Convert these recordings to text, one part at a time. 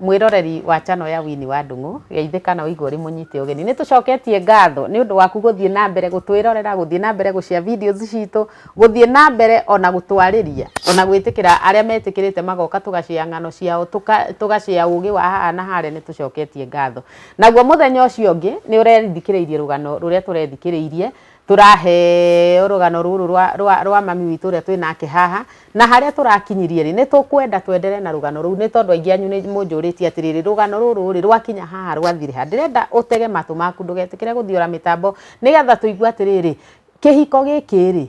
Mwĩroreri wa channel ya Winnie wa Ndung'u, geithĩka na ũigue ũrĩ mũnyite ũgeni. Nĩ tũcoketie ngatho nĩ ũndũ waku gũthiĩ na mbere gũtwĩrorera, gũthiĩ na mbere gũ share videos citũ, gũthiĩ na mbere o na gũtwarĩria, o na gwĩtĩkĩra arĩa metĩkĩrĩte magoka tũga share ng'ano ciao, tũga share ũgĩ wa haha na harĩa, nĩ tũcoketie ngatho. Naguo mũthenya ũcio ũngĩ, nĩ ũrethikĩrĩirie rũgano rũrĩa tũrethikĩrĩirie, Tũraheo rũgano rũrũ rwa, rwa, rwa mami witũ ũrĩa twĩ nake haha, na harĩa tũrakinyirie rĩ, nĩ tũkwenda twenderee na rũgano rũu, nĩ tondũ aingĩ anyu nĩ mũnjũrĩtie atĩrĩrĩ, rũgano rũrũ rĩ, rwakinya haha rwathire ha? Ndĩrenda ũtege matũ maku, ndũgetĩkĩre gũthiũra mĩtambo, nĩgetha tũigue atĩrĩrĩ, kĩhiko gĩkĩ rĩ,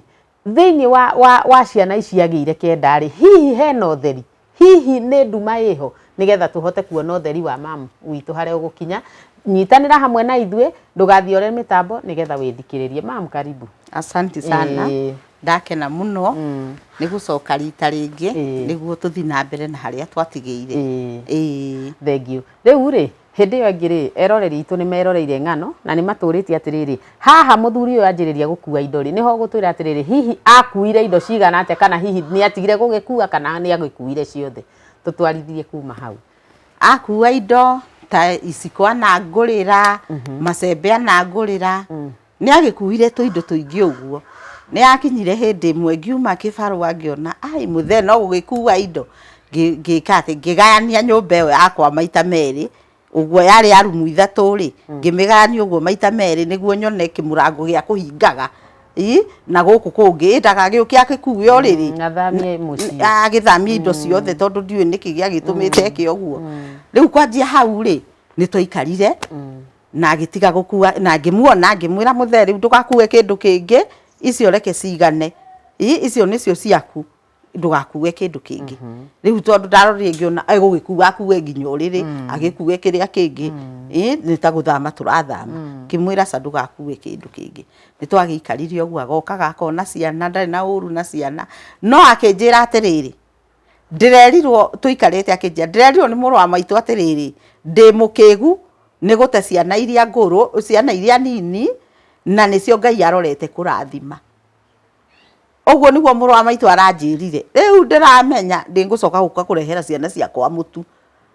thĩinĩ wa, wa, wa ciana ici agĩire kenda rĩ, hihi hena ũtheri? Hihi nĩ nduma ĩho? Nĩgetha tũhote kuona ũtheri wa mamu witũ harĩa ũgũkinya, nyitanĩra hamwe na ithuĩ, ndũgathiĩ ore mĩtambo nĩgetha wĩthikĩrĩrie. Mamu karibu. Asanti sana. Ĩĩ. Ndakena mũno Mm. nĩ gũcoka rita rĩngĩ Ĩĩ. nĩguo tũthiĩ na mbere na harĩa twatigĩire. Ĩĩ. Ĩĩ. Thengiũ. Rĩu rĩ, Hĩndĩ ĩyo ĩngĩ-rĩ, eroreri aitũ nĩ meroreire ng'ano na nĩ matũũrĩtie atĩrĩrĩ, 'Haha mũthuri ũyũ anjĩrĩria gũkua indo-rĩ, nĩ ho ũgũtwĩra atĩrĩrĩ, Hihi aakuire indo cigana atĩa? Kana hihi nĩ atigire gũgĩkua kana nĩ agĩkuire ciothe? Tũtwarithie kuma hau. Akua indo ta iciko anangũrĩra, macembe anangũrĩra. Nĩagĩkuuire tũindo tũingĩ ũguo. Nĩyakinyire hĩndĩ ĩmwe ngiuma kĩbarũa ngĩona aai mũthee no gũgĩkuua indo ngĩka atĩ ngĩgayania nyũmba ĩyo yakwa maita meerĩ ũguo yarĩ ya rumu ithatũ rĩ ngĩmĩgayania ũguo maita meerĩ nĩguo nyone kĩmũrango gĩa kũhingaga ii na gũkũ kũngĩ ĩ ndagagĩũke agĩkuue ũrĩrĩ Athamie mũciĩ. agĩthamie indo ciothe tondũ ndiũĩ nĩkĩ gĩagĩtũmĩte eke ũguo. Rĩu kwanjia hau rĩ nĩtwaikarire na agĩtiga gũkua na ngĩmuona ngĩmwĩra mũthee rĩu ndũgakue kĩndũ kĩngĩ icio reke cigane ii icio nĩcio ciaku ndũgakue kĩndũ kĩngĩ rĩu tondũ ndarorire ngĩona egũgĩkua akue nginya ũrĩrĩ agĩkue kĩrĩa kĩngĩ ii nĩ ta gũthama tũrathama ngĩmwĩra aca ndũgakue kĩndũ kĩngĩ nĩ twagĩikarire ũguo agokaga akona ciana ndarĩ na ũru na ciana no akĩnjĩra atĩrĩrĩ ndĩrerirwo tũikarĩte akĩnjia ndĩrerirwo nĩ mũrũ wa maitũ atĩrĩrĩ ndĩ mũkĩgu nĩ gũte ciana iria ngũrũ ciana iria nini na nĩcio ngai arorete kũrathima ũguo nĩguo mũrũ wa maitũ aranjĩrire rĩu ndĩramenya ndĩngũcoka gũka kũrehera ciana ciakwa mũtu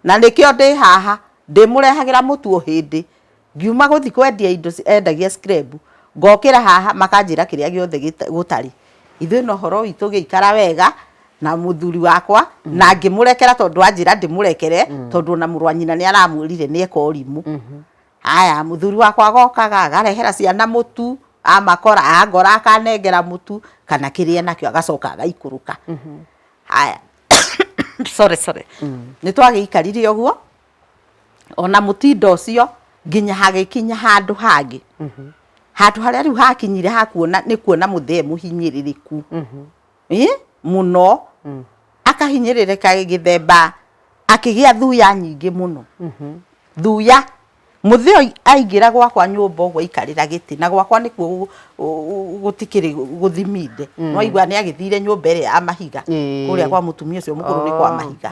na nĩkĩo ndĩ haha ndĩmũrehagĩra mũtu o hĩndĩ Ngiuma gũthiĩ kwendia indo endagia skrebu, ngokĩra haha makanjĩra kĩrĩa gĩothe gũtarĩ. Ithuĩ no ũhoro witũ ũgĩikara wega na mũthuri wakwa na ngĩmũrekera tondũ anjĩra ndĩmũrekere tondũ ona mũrũ wa nyina nĩ aramwĩrire nĩ eka ũrimũ. Haya, mũthuri wakwa agokaga akarehera ciana mũtu, amakora, angora akanengera mũtu kana kĩrĩa enakĩo agacoka agaikũrũka. Haya, sorry sorry. Nĩ twagĩikarire ũguo. ona mũtinda ũcio nginya hagĩkinya handũ hangĩ mhm. handũ harĩa rĩu hakinyire hakuona nĩ kuona mũthee mũhinyĩrĩrĩku mhm. mũno mm. akahinyĩrĩrĩka gĩthemba akĩgĩa thuya nyingĩ mũno mhm. thuya muthio aingira gwakwa nyumba uguo ikarira giti na gwakwa nikuo gutikiri guthiminde mm. no igwa ni agithire nyumba iri ya mahiga kuria kwa mutumia ucio mukuru ni kwa oh, mahiga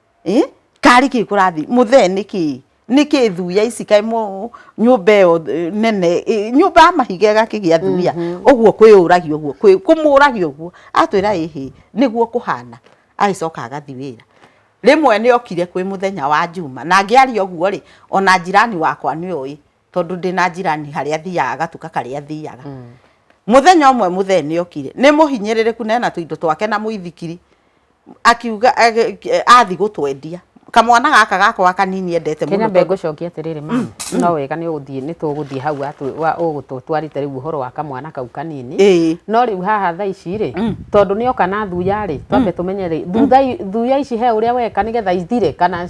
eh? karĩ kĩ kũrathi mũthee nĩ kĩ nĩ kĩ thuya ici kaĩ mũ- nyũmba ĩyo eh, nene eh, nyũmba ya mahiga ĩgakĩgĩa thuya ũguo kwĩyũragia ũguo kwĩ- kũmũragia ũguo atwĩra ĩhĩ nĩguo kũhana agĩcoka agathi wĩra rĩmwe nĩ okire kwĩ mũthenya wa njuma na angĩaria ũguo rĩ ona njirani wakwa nĩ oĩ tondũ ndĩ na njirani harĩa thiaga gatuka karĩa thiaga muthenya umwe muthe ni okire ni muhinyiririku na ena tuindo twake na muithikiri akiuga athi gutwendia kamwana gaka gakwa kanini endete muno kenya ngucokia atiriri ma mm, mm. no wega ni uguthie ni tuguthie hau wa ugututwarite riu uhoro wa kamwana kau kanini no riu haha tha ici ri mm. tondu ni oka na thuya ri twambe tumenye ri thuya ici he uria weka nigetha ithire kana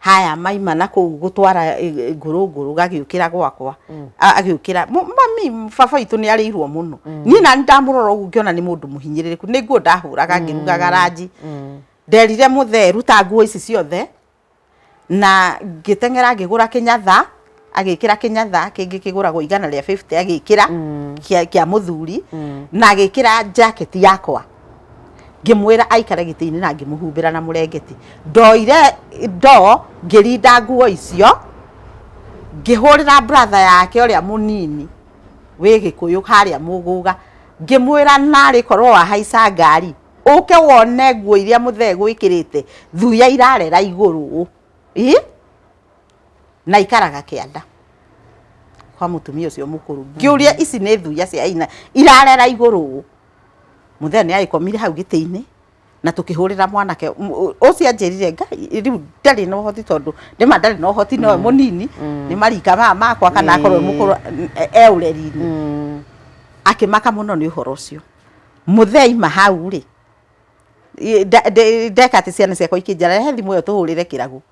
haya maima na kũu gũtwara ngũrũ ngũrũ gagĩũkĩra gwakwa agĩũkĩra mami baba witũ nĩ arĩirwo mũno niĩ nani ndamũrora ũguo ngĩona nĩ mũndũ mũhinyĩrĩrĩku nĩ nguo ndahũraga ngĩrugaga ranji nderire mũthe ruta nguo ici ciothe na ngĩteng'era ngĩgũra kĩnyatha agĩkĩra kĩnyatha kĩngĩ kĩgũragwo igana rĩa 50 agĩkĩra mm. kĩa, kĩa mũthuri mm. na agĩkĩra jacket yakwa ngĩmwĩra aikare gĩtĩ-inĩ na ngĩmũhumbĩra na mũrengeti ndoire ndo ngĩrinda nguo icio ngĩhũrĩra brother yake ũrĩa mũnini wĩ gĩkũyũ harĩa mũgũga ngĩmwĩra narĩ korwo wahaica ngari ũke wone nguo iria mũthee gwĩkĩrĩte thuya irarera igũrũ ii na ikaraga kĩanda kwa mutumia ucio mukuru ngiuria mm-hmm. ici ni thuya cia ina irarera iguru muthee ni agikomire hau gitiini na tukihurira mwanake ucio anjirire ngai riu ndari no hoti tondu ndima ndari no hoti no mm. munini mm. ni marika ma makwa kana akorwo mm. mukuru e, e ureri-ini akimaka muno ni uhoro ucio muthee ima hau ri ndeka ati ciana ciakwa ikinjara he thimu iyo tuhurire kiragu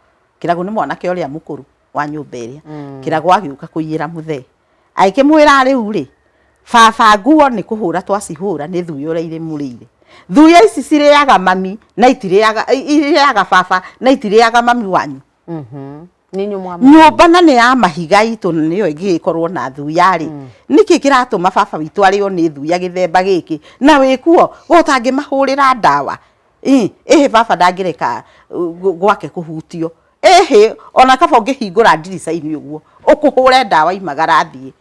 kĩragũ nĩ mwanake ũrĩa mũkũrũ wa nyũmba ĩrĩa mm. kĩragũ agĩũka kũiyĩra mũthee agĩkĩmwĩra rĩu rĩ baba nguo nĩ kũhũra twacihũra nĩ thuĩ ũrĩa irĩ mũrĩire thuya ici cirĩaga mami na itirĩaga irĩaga baba na itirĩaga mami wanyu mhm. nyũmba na nä ya mahiga itå nä yo ä ngä gä korwo na thuya rä mm. nä kä kä ratå ma baba witå arä o nä thuya gä themba gä kä na wä kuo gå tangä mahå rä ra ndawa Ii, ĩhĩ baba ndangĩreka uh, gw- gwake kũhutio ĩhĩ ona kaba ũngĩhingũra ndirica-inĩ ũguo ũkũhũre ndawa imagara athiĩ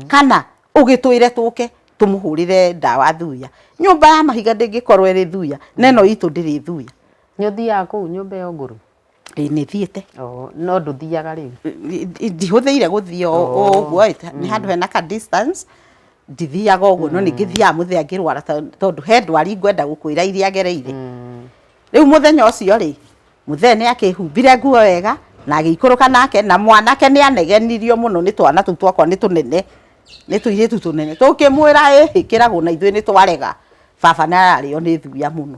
kana ũgĩtwĩre tũke tũmũhũrĩre ndawa thuya nyũmba ya mahiga ndĩngĩkorwo ĩrĩ thuya na ĩno itũ ndĩrĩ thuya nĩ ũthiaga kũu nyũmba ĩyo ngũrũ Ĩĩ nĩ thiĩte. Oo, no ndũthiaga rĩu? Ndihũthĩire gũthiĩ o ũguo ĩ, nĩ handũ hena ka distance, ndithiaga ũguo no nĩ ngĩthiaga mũthenya ngĩrwara tondũ he ndwari ngwenda gũkwĩra iria agereire. Rĩu mũthenya ũcio rĩ, mũthee nĩ akĩhumbire nguo wega, na agĩikũrũka nake, na mwanake nĩ anegenirio mũno nĩ twana tũu twakwa nĩ tũnene, nĩ tũirĩtu tũnene. Tũkĩmwĩra ĩhĩ kĩragũ na ithuĩ nĩ twarega, baba nĩ ararĩo nĩ thuya mũno.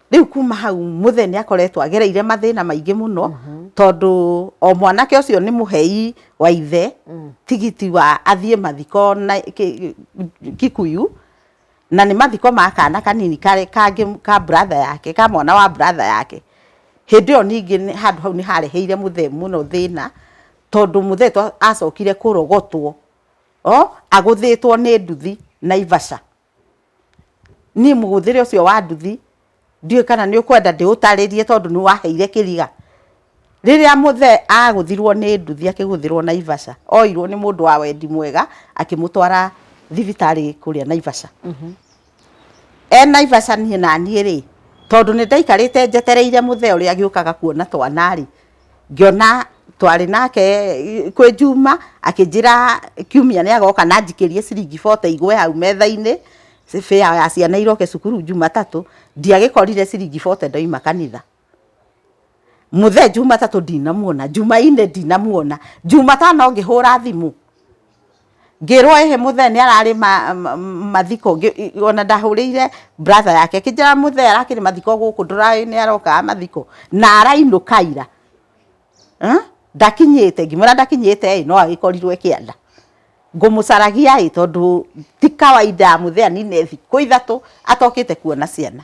rĩu kuma hau mũthee nĩ akoretwo agereire mathĩna maingĩ mũno mhm. tondũ o mwanake ũcio nĩ mũhei wa ithe mm. tigiti wa athiĩ mathiko na kikuyu na nĩ mathiko ma kana kanini kangĩ ka brother yake ka mwana wa brother yake hĩndĩ ĩyo ningĩ handũ hau nĩ hareheire mũthee mũno thĩna tondũ mũthee acokire kũrogotwo o agũthĩtwo nĩ nduthi na ivaca Niĩ mũhũthĩre ũcio wa nduthi, ndiũĩ kana nĩ ũkwenda ndĩũtarĩrie tondũ nĩ waheire kĩriga. Rĩrĩa mũthee agũthirwo nĩ nduthi akĩgũthĩrwo Naivasha, oirwo nĩ mũndũ wa wendi mwega akĩmũtwara thibitarĩ kũrĩa Naivasha. E Naivasha niĩ naniĩ rĩ, tondũ nĩ ndaikarĩte njetereire mũthee ũrĩa agĩũkaga kuona twana rĩ, ngĩona twarĩ nake kwĩ Juma, akĩnjĩra kiumia nĩ agoka na anjikĩrie ciringi bote igwe hau metha-inĩ, fare ya ciana iroke cukuru Jumatatũ, ndiagĩkorire ciringi bote ndoima kanitha. Mũthee Jumatatũ ndinamuona, Jumaine ndinamuona, Jumatano ngĩhũra thimũ. Ngĩrwo ĩhĩ mũthee nĩ ararĩ mathiko, ona ndahũrĩire brother yake ĩkĩnjĩra mũthee arakĩrĩ mathiko gũkũ ndũrowĩ nĩ arokaga mathiko na arainũka ira ndakinyĩte, ngĩmwĩra ndakinyĩte ĩ no agĩkorirwe kĩanda, ngũmũcaragia ĩ tondũ ti kawaida mũthee anine thikũ ithatũ atokĩte kwona ciana.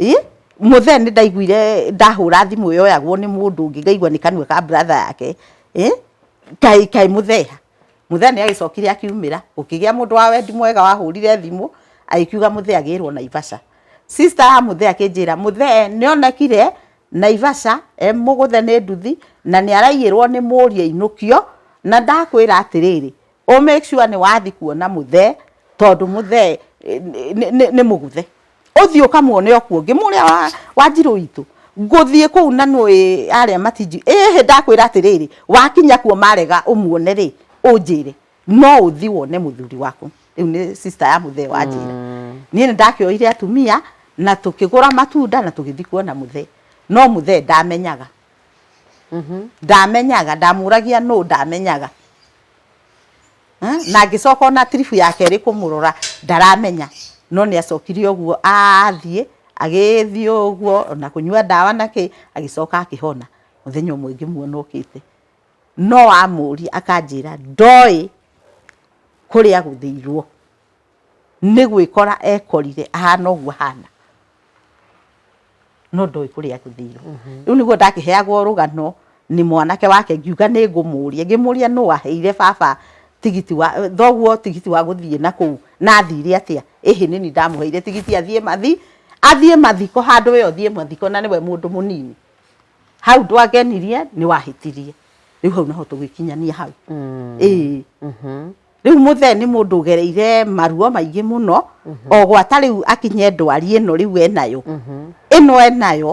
Ĩ, mũthee nĩ ndaiguire ndahũra thimũ yoyagwo nĩ mũndũ ũngĩ ngaigua nĩ kanua ka brother yake, ĩ, kaĩ kaĩ mũthee ha? Mũthee nĩ agĩcokire akiumĩra, gũkĩgĩa mũndũ wa wendi mwega wahũrire thimũ agĩkiuga mũthee agĩrwo Naivasha. Sister ya mũthee akĩnjĩra mũthee nĩ onekire Naivasha e mũgũthe nĩ nduthi na nĩ araiyĩrwo nĩ mũriũ ainũkio, na ndakwĩra atĩrĩrĩ, ũ make sure nĩ wathi kuona mũthee tondũ mũthee eh, nĩ- nĩ nĩ- nĩ mũguthe ũthiĩ ũkamuone okuo ngĩ mũrĩa wa- wa njirũ witũ ngũthiĩ kũu na nũĩ arĩa matinji ĩhĩ ndakwĩra atĩrĩrĩ wakinya kuo marega ũmuone rĩ ũnjĩre no ũthi wone mũthuri waku rĩu nĩ sister ya mũthee wanjĩra niĩ nĩ ndakĩoire atumia na tũkĩgũra matunda na tũgĩthi kuona mũthee no mũthee ndamenyaga ndamenyaga ndamũragia nũ ndamenyaga na ngĩcoka ona tiribu ya kerĩ kũmũrora ndaramenya no nĩ acokire ũguo athiĩ agĩthiĩ ũguo na kũnyua ndawa na kĩ agĩcoka akĩhona mũthenya ũmwe ngĩmuona ũkĩte no amũria akanjĩra ndoĩ kũrĩa agũthĩirwo nĩ gwĩkora ekorire ahana ũguo ahana no ndoĩ kũrĩa agũthĩirwo mhm. rĩu nĩguo ndakĩheagwo rũgano nĩ mwanake wake ngiuga nĩ ngũmũria ngĩmũria nũ waheire baba tigiti wa thoguo tigiti wa gũthiĩ na kũu na athire atĩa ĩhĩ nĩ ni ndamũheire tigiti athiĩ mathi athiĩ mathiko handũ we ũthiĩ mathiko na nĩwe mũndũ mũnini hau ndwangenirie nĩ wahĩtirie rĩu hau naho tũgĩkinyania hau mm. ĩĩ mhm. Rĩu mũthee nĩ mũndũ ũgereire maruo maingĩ mũno o gwata rĩu akinye ndwari ĩno rĩu enayo ĩno enayo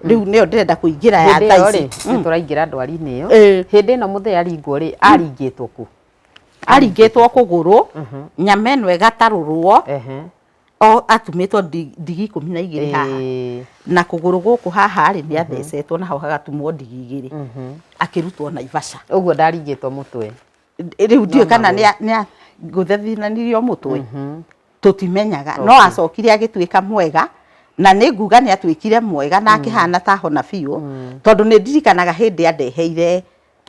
rĩu nĩyo ndĩrenda kũingĩra ya hĩndĩ ĩyo thaa rĩ ici nĩ tũraingĩra ndwari-inĩ ĩyo Ĩĩ. hĩndĩ ĩno mũthee aringwo rĩ aringĩtwo kũ aringĩtwo kũgũrũ nyama ĩno ĩgatarũrwo Ehe. o atumĩtwo ndi- ndigi ikũmi na igĩrĩ haha Ĩĩ. na kũgũrũ gũkũ haha rĩ nĩ athecetwo naho hagatumwo ndigi igĩrĩ akĩrutwo naivasha ũguo ndaringĩtwo mũtwe rĩu ndiũ kana nĩ ngũthethinanirio mũtwe mhm. tũtimenyaga no acokire agĩtuĩka mwega na nĩ nguga nĩ atuĩkire mwega na mm. akĩhana ta hona biũ mm. tondũ nĩ ndirikanaga hĩndĩ andeheire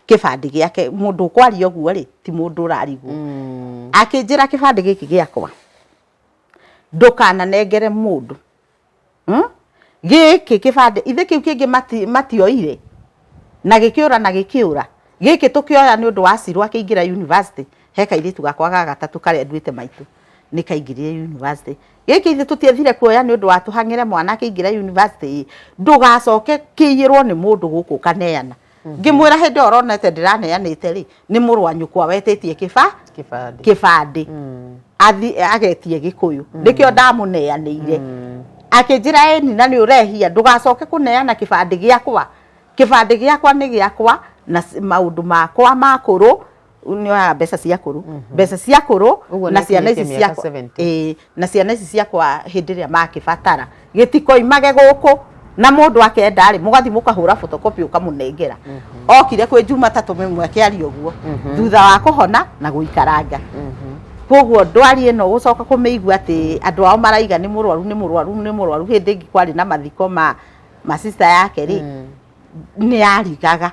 kĩbandĩ gĩake mũndũ ũkwaria ũguo rĩ ti mũndũ ũrarigwo mm. akĩnjĩra kĩbandĩ gĩkĩ gĩakwa ndũkananengere mũndũ hmm? gĩkĩ kĩbandĩ ithe kĩu kĩngĩ mati, matioire na gĩkĩũra na gĩkĩũra gĩkĩ tũkĩoya nĩ ũndũ wa cirwa kĩingĩra university he kairĩtu gakwa ga gatatũ karĩa nduĩte maitũ nĩ kaingĩrire university gĩkĩ ithe tũtiethire kuoya nĩ ũndũ wa tũhang'ĩre mwana akĩingĩra university ndũgacoke kĩiyĩrwo nĩ mũndũ gũkũ kaneana ngĩmwĩra hĩndĩ ĩyo ronete ndĩraneanĩte rĩ nĩ mũrũ wa nyũkwa wetĩtie kĩba kĩbandĩ kĩbandĩ Mm. athi agetie gĩkũyũ nĩkĩo ndamũneanĩire Mm. akĩnjĩra ĩ nyina nĩ ũrehia ndũgacoke kũneana kĩbandĩ gĩakwa kĩbandĩ gĩakwa nĩ gĩakwa na s- maũndũ makwa makũrũ nyoyaga mbeca cia kũrũ mbeca cia kũrũ Ũguo na nĩ ciana ici akinyĩtie mĩaka ciakwa 70. ĩĩ, na ciana ici ciakwa hĩndĩ ĩrĩa makĩbatara gĩtikoimage gũkũ na mũndũ akenda rĩ mũgathi mũkahũra photocopy ũkamũnengera okire kwĩ jumatatũ mĩmwe akĩaria ũguo thutha wa kũhona na gũikaranga koguo ndwari ĩno gũcoka kũmĩigua atĩ andũ ao maraiga nĩ mũrwaru nĩ mũrwaru nĩ mũrwaru hĩndĩ ĩngĩ kwarĩ na mathiko ma ma sister yake rĩ nĩ yarigaga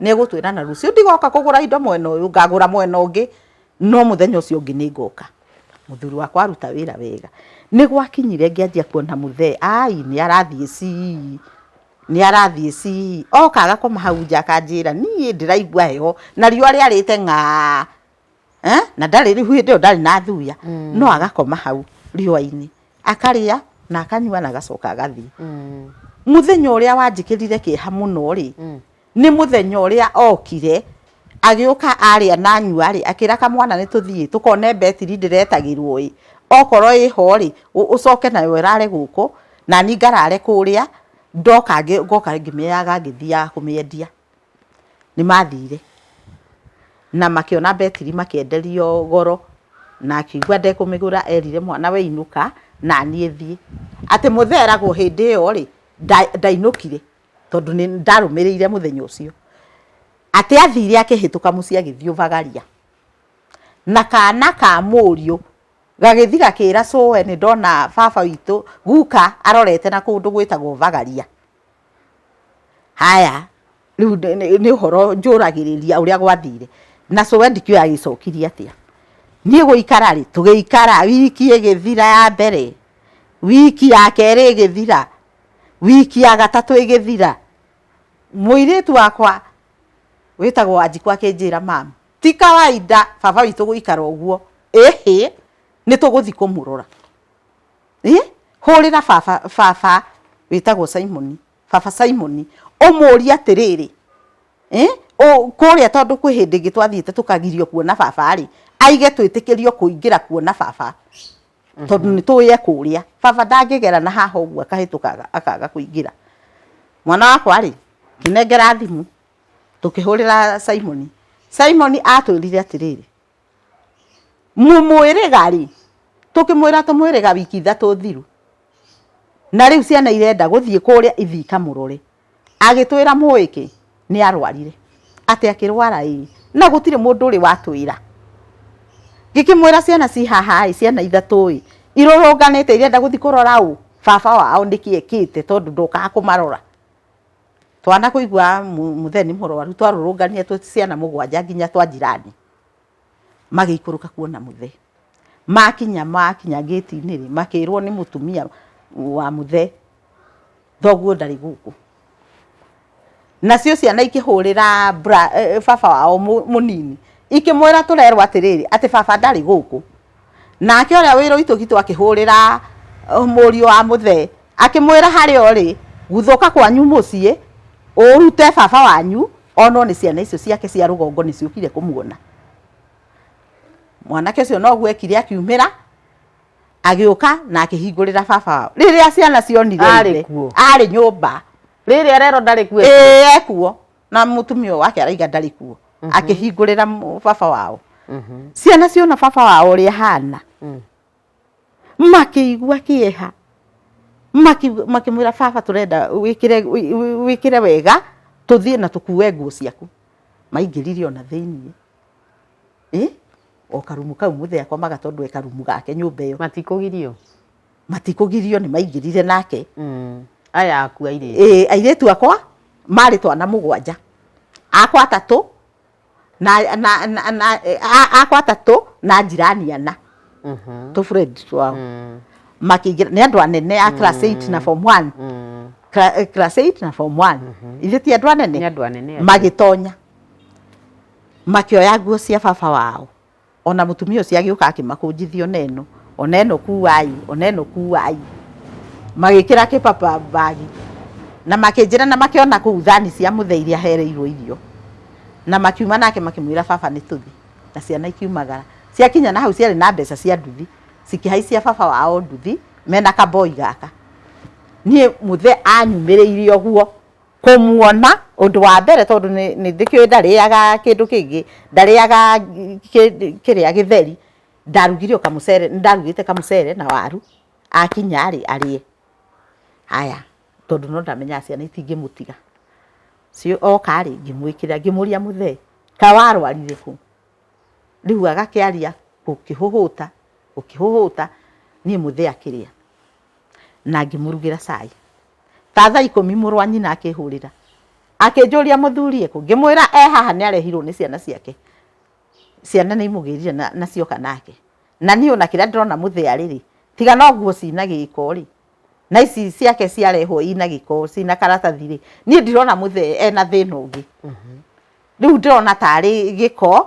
nĩ egũtwĩra na rũciũ ndigoka kũgũra indo mwena ũyũ ngagũra mwena ũngĩ no mũthenya ũcio ũngĩ nĩ ngoka mũthuri wakwa aruta wĩra wega nĩ gwakinyire ngĩanjia kuona mũthee ai nĩ arathiĩ cii nĩ arathiĩ cii oka agakoma hau nja akanjĩra niĩ ndĩraigua heho na riũa rĩarĩte ng'aa. eh, na ndarĩ rĩu hĩndĩ ĩyo ndarĩ na thuya mm. no agakoma hau riũa-inĩ akarĩa na akanyua na agacoka agathiĩ mm. mũthenya ũrĩa wanjĩkĩrire kĩeha mũno rĩ mm. nĩ mũthenya ũrĩa okire agĩũka arĩa na nyua rĩ akĩra kamwana nĩ tũthiĩ tũkone betiri ndĩretagĩrwo ĩ okorwo ĩ ho rĩ ũcoke nayo ĩrare gũkũ na ni ngarare kũrĩa ndoka ngoka ngĩmĩaga ngĩthiaga kũmĩendia nĩ mathire na makĩona mbetiri makĩenderio goro, na akĩigua ndekũmĩgũra erire mwana we inũka na niĩ thiĩ. Atĩ mũthee eragwo hĩndĩ ĩyo rĩ, ndainũkire tondũ nĩ ndarũmĩrĩire mũthenya ũcio. Atĩ athire akĩhĩtũka mũciĩ agĩthiĩ ũbagaria, na kana ka mũriũ gagĩthi gakĩra cũe nĩ ndona baba witũ guka arorete na kũndũ gwĩtagwo ũbagaria. Haya, rĩu nĩ ũhoro njũragĩrĩria ũrĩa gwathire. Na cũwe ndikĩũĩ agĩcokire atĩa. Niĩ gũikara rĩ, tũgĩikara wiki ĩgĩthira ya mbere, wiki ya kerĩ ĩgĩthira, wiki ya gatatũ ĩgĩthira, mũirĩtu wakwa wĩtagwo Wanjikũ akĩnjĩra, Mami, ti kawainda baba witũ gũikara ũguo, ĩhĩ, nĩ tũgũthiĩ kũmũrora. eh? hũrĩra baba baba wĩtagwo simoni baba simoni ũmũũrie atĩrĩrĩ eh? kũrĩa tondũ kwĩ hĩndĩ ĩngĩ twathiĩte tũkagirio kuona baba rĩ aige twĩtĩkĩrio kũingĩra kuona baba mhm. tondũ nĩ tũĩ ekũrĩa baba ndangĩgera na haha ũguo akahĩtũkaga akaga kũingĩra mwana wakwa rĩ ngĩnengera thimũ tũkĩhũrĩra simoni simoni atwĩrire atĩrĩrĩ mũmwĩrĩga rĩ tũkĩmwĩra tũmwĩrĩga wiki ithatũ thiru na rĩu ciana irenda gũthiĩ kũrĩa ithiĩ ikamũrore agĩtwĩra mũĩ kĩ nĩ arwarire atĩ akĩrwara ĩ na gũtirĩ mũndũ ũrĩ watwĩra ngĩkĩmwĩra ciana ciĩ haha ĩ ciana ithatũ ĩ irũrũnganĩte irenda gũthiĩ kũrora ũ baba wao nĩkĩ ekĩte tondũ ndokaga kũmarora twana kũigua mũthee nĩ mũrwaru twarũrũnganire twĩ ciana mũgwanja nginya twa njirani magĩikũrũka kuona mũthe. Makinya makinya ngĩti-inĩ rĩ, makĩrwo nĩ mũtumia wa mũthe, thoguo ndarĩ gũkũ. Nacio ciana ikĩhũrĩra bra baba wao mũnini, ikĩmwĩra tũrerwo atĩrĩrĩ, atĩ baba ndarĩ gũkũ. Nake ũrĩa wĩ Loitokito akĩhũũrĩra uh, mũriũ wa mũthee akĩmwĩra harĩa ũrĩ guthũka kwanyu mũciĩ ũrute baba wanyu onwo nĩ ciana icio ciake cia rũgongo nĩ ciũkire kũmuona mwanake ũcio noguo ekire akiumĩra agĩũka na akĩhingũrĩra baba wao rĩrĩa ciana cionire Arĩ ithe, kuo. arĩ nyũmba rĩrĩ arero ndarĩ kuo ĩĩ ekuo na mutumia wake araiga ndari kuo mm -hmm. akihingurira baba wao mm -hmm. ciana ciona baba wao uri hana mm. makiigua kieha makimwira baba turenda wikire wikire wega tuthie na tukue nguo ciaku maingirire ona thiini eh o karumu kau muthe akomaga tondu e karumu gake nyumba iyo matikugirio matikũgirio nĩ maingĩrire nake Mm. aya aku airĩtu ĩĩ airĩtu akwa marĩ twana mũgwanja akwa atatũ na, na, na, na, a- akwa atatũ na njirani ana Mhm. tũ friend twao Mm. makĩingĩra nĩ andũ anene a class 8 na form 1 Mm. Cla- eh, class 8 na form 1 ithe ti andũ nĩ anene andũ anene acio. magĩtonya makĩoya nguo cia baba wao Ona mũtumia ũcio agĩũka akĩmakũnjithia ona ĩno ona ĩno kuai ona ĩno kuai magĩkĩra kĩpapa mbagi na makĩnjĩra na makĩona kũu thani cia mũthee iria hereirwo irio na makiuma nake makĩmwĩra baba nĩ tũthi na ciana ikiumagara ciakinya na hau ciarĩ na mbeca cia nduthi cikĩhaicia baba wao nduthi mena kaboi gaka niĩ mũthee anyumĩrĩire ũguo kũmuona ũndũ wa mbere tondũ nĩ ndĩkĩũĩ ndarĩaga kĩndũ kĩngĩ, ndarĩaga kĩrĩa gĩtheri, ndarugire o kamũcere, nĩ ndarugĩte kamũcere na waru, akinya rĩ arĩe. Haya tondũ no ndamenyaga ciana itingĩmũtiga, oka rĩ ngĩmwĩkĩrĩra, ngĩmũria mũthee kaĩ warwarire kũ? Rĩu agakĩaria gũkĩhũhũta gũkĩhũhũta niĩ mũthee akĩrĩa. na ngĩmũrugĩra cai ta thaa ikũmi mũrũ wa nyina akĩhũrĩra akĩnjũria mũthuri ekũ ngĩmwĩra e haha nĩ arehirwo nĩ ciana ciake ciana nĩ imũgĩrire na, na cioka nake na niĩ ona kĩrĩa ndĩrona mũthĩarĩ rĩ tiga no nguo cina gĩko rĩ na ici ciake ciarehwo ina gĩko cina karatathi rĩ niĩ ndirona mũthee ena thĩna ũngĩ rĩu ndĩrona tarĩ gĩko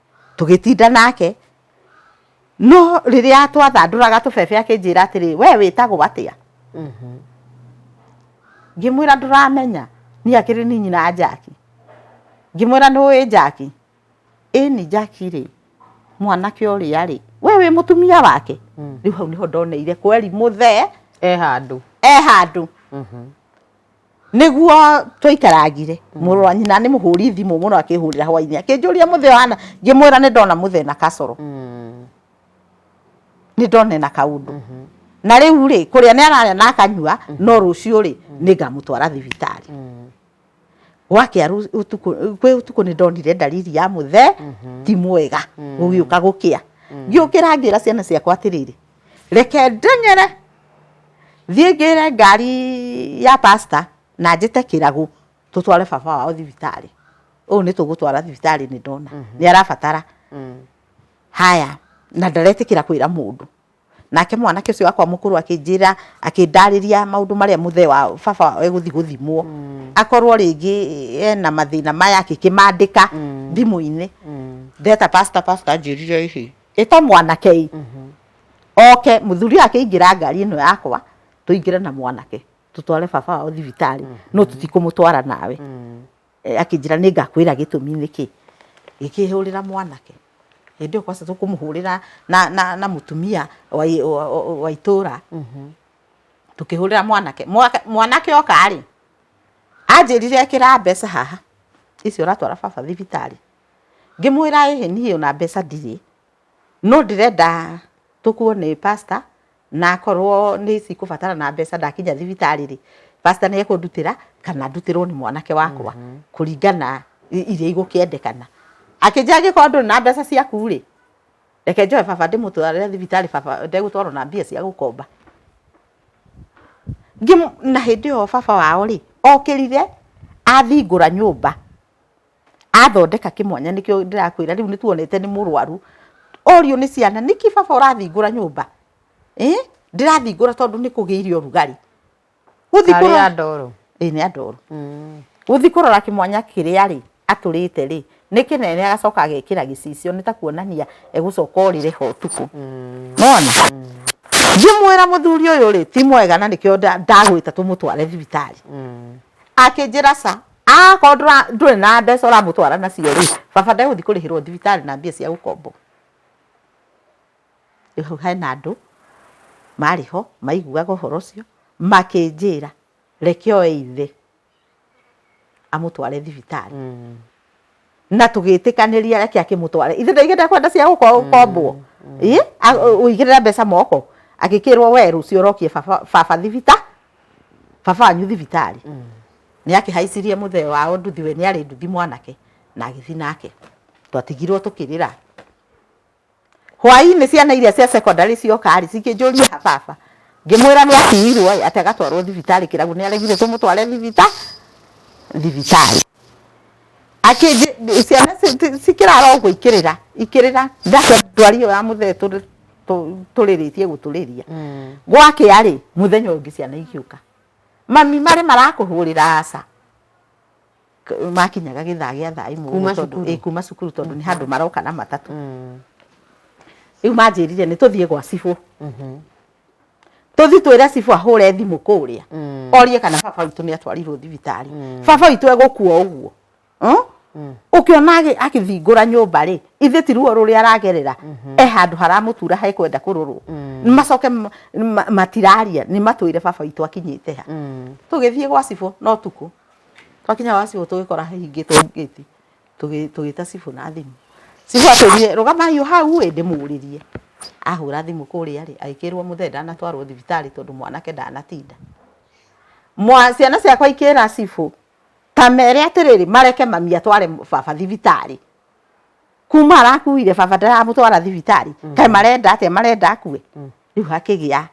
tũgĩtinda nake no rĩrĩa twathandũraga tũbebe akĩnjĩra atĩrĩ we wĩtagwo atĩa mhm. ngĩmwĩra ndũramenya niĩ akĩrĩ ni nyina wa njaki ngĩmwĩra nĩ ũĩ njaki ĩni njaki rĩ mwanake ũrĩa rĩ we wĩ mũtumia wake mm. rĩu hau nĩho ndoneire kweri mũthee e handũ e handũ mhm. niguo twaikaragire mũrũ wa nyina nĩ mũhũri thimũ mũno akĩhũrĩra hwainĩ akĩnjũria mũthĩ hana ngĩmwĩra nĩ ndona mũthĩ na kacoro mm. nĩ ndona na kaũndũ mhm. na rĩu rĩ kũrĩa nĩ ararĩa na akanyua mhm. no rũciũ rĩ mhm. nĩ ngamũtwara thibitarĩ mm. gwakia kwĩ ũtukũ nĩ ndonire ndariri ya mũthe ti mwega gũgĩũka gũkĩa mm. ngĩũkĩra ngĩra ciana ciakwa atĩrĩrĩ reke ndenyere thiĩ ngĩre ngari ya pastor na njĩte kĩragũ tũtware baba wao thibitarĩ ũũ nĩ tũgũtwara thibitarĩ nĩ ndona nĩ arabatara haya na ndaretĩkĩra kwĩra mũndũ nake mwanake ũcio wakwa mũkũrũ akĩnjĩra akĩndarĩria maũndũ marĩa mũthee wa baba wao egũthi gũthimwo akorwo rĩngĩ ena mathĩna maya akĩkĩmandĩka thimũ-inĩ ndeta pastor pastor anjĩrire ĩhĩ ĩta mwanake ĩ mhm. oke mũthuri akĩingĩra ngari ĩno yakwa tũingĩre na mwanake tũtware baba wao thibitarĩ mhm. no tũtikũmũtwara nawe mhm. e, akĩnjĩra nĩ ngakwĩra gĩtũmi nĩkĩ gĩkĩhũrĩra mwanake hĩndĩ ĩyo kwaca tũkũmũhũrĩra na, na, na mũtumia wa itũra tũkĩhũrĩra mwanake mwanake oka rĩ anjĩrire ĩkĩra mbeca haha icio ũratwara baba thibitarĩ Ngĩmwĩra ĩhĩ niĩ ona mbeca ndirĩ, no ndĩrenda tũkuone pastor, na akorwo nĩ cikũbatarana mbeca ndakinya thibitarĩ rĩ, pastor nĩ ekũndutĩra kana ndutĩrwo nĩ mwanake wakwa, kũringana iria igũkĩendekana. Akĩnjĩra angĩkorwo ndũrĩ na mbeca ciaku rĩ, reke njoe baba ndĩmũtware thibitarĩ baba ndegũtwarwo na mbia cia gũkomba. Na hĩndĩ ĩyo baba wao rĩ, okĩrire ahingũra nyũmba. athondeka kĩmwanya nĩkĩo ndĩrakwĩra rĩu nĩ tuonete nĩ mũrwaru orio nĩ ciana nĩkĩ baba ũrathingũra nyũmba eh? ndĩrathingũra tondũ nĩ kũgĩire ũrugarĩ gũthi Karĩ kũrora andoro. ĩ nĩ andoro Mm. gũthi kũrora kĩmwanya kĩrĩa rĩ atũrĩte rĩ nĩ kĩnene agacoka agekĩra gĩcicio nĩ ta kuonania egũcoka orĩre ho ũtukũ Mm. mona ngĩmwĩra mũthuri ũyũ rĩ ti mwega na nĩkĩo nda- ndagwĩta tũmũtware thibitarĩ Mm. akĩnjĩra ca Akorwo ndũrĩ na mbeca ũramũtwara nacio rĩ, baba ndegũthiĩ kũrĩhĩrwo thibitarĩ na mbia cia gũkombo. Rĩu hau hena andũ marĩ ho maiguaga ũhoro ũcio makĩnjĩra reke oe ithe amũtware thibitarĩ. na tũgĩtĩkanĩria reke akĩmũtware ithe ndaigĩte kwenda cia gũkombwo mm, mm. ĩ ũigĩrĩra mbeca moko agĩkĩrwo we rũciũ ũrokie baba thibita baba wanyu thibitarĩ mm. nĩ akĩhaicirie mũthee wao nduthi we nĩ arĩ nduthi mwanake na agĩthi nake twatigirwo tũkĩrĩra Hwainĩ ciana iria cia secondary cioka-rĩ, cikĩnjũria ha baba. Ngĩmwĩra nĩ atiirwo-ĩ, atĩ agatwarwo thibitarĩ kĩrabu. Nĩ aregire tũmũtware thibita, thibitarĩ. Akĩnjĩ, ciana cikĩrara ũguo ikĩrĩra, ikĩrĩra, ndakĩona ndwari ĩyo ya mũthee tũrĩrĩtie gũtũrĩria. Gwakĩa-rĩ, mũthenya ũyũ ũngĩ ciana igĩũka, mami marĩ marakũhũrĩra aca. makinyaga gĩthaa gĩa thaa imwe kuma cukuru, ĩ, kuma cukuru tondũ nĩ handũ maroka na matatũ mm. rĩu manjĩrire nĩ tũthiĩ gwa cibũ mhm. tũthi twĩre cibũ ahũre thimũ kũrĩa mm. orie kana baba witũ nĩ atwarirwo thibitarĩ mm. baba witũ egũkua ũguo mm? ũkĩona akĩthingũra nyũmba rĩ ithe ti ruo rũrĩa aragerera mhm. e handũ haramũtura he kwenda kũrorwo macoke matiraria nĩ matwĩre baba witũ akinyĩte ha tũgĩthiĩ gwa cibũ no tukũ Twakinya gwa cibũ tũgĩkora ahingĩtwo ngĩti, tũgĩta cibũ na thimũ. Cibũ atũrire, rũgamai o hau ĩ ndĩmũrĩrie. Ahũra thimũ kũrĩa rĩ, agĩkĩrwo mũthee ndanatwarwo thibitarĩ tondũ mwanake ndanatinda. Ciana ciakwa ikĩra cibũ, ta mere atĩrĩrĩ, mareke mami atware baba thibitarĩ. kuma arakuire baba ndaramũtwara thibitarĩ mm. kaĩ marenda atĩa marenda akue mm. rĩu hakĩgĩa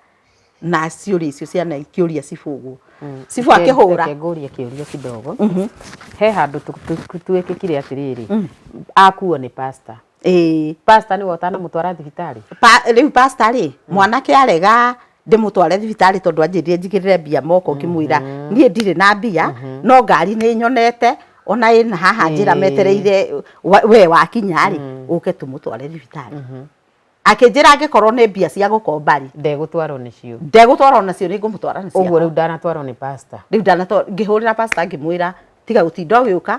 na ciũria icio ciana ikĩũria cibũgwo mm. cibu akĩhũra ngũria kĩũria kidogo mhm. he handũ twĩkĩkire atĩrĩrĩ akuo nĩ pastor ĩĩ pastor nĩwe ũtanamũtwara thibitarĩ rĩu pastor rĩ mwanake arega ndĩmũtware thibitarĩ tondũ anjĩrire njigĩrĩre mbia moko ngĩmwĩra mhm. niĩ ndirĩ na mbia mhm. no ngari nĩ nyonete ona ĩna haha njĩra metereire we wakinya rĩ mm. ũke tũmũtware thibitarĩ mhm. akĩnjĩra angĩkorwo nĩ mbia cia gũkomba rĩ ndegũtwarwo nĩcio ndegũtwarwo nacio nĩ ngũmũtwara nacio ũguo rĩu ndanatwarwo nĩ pastor rĩu ndanatwarwo ngĩhũrĩra pastor ngĩmwĩra tiga gũtinda ũgĩũka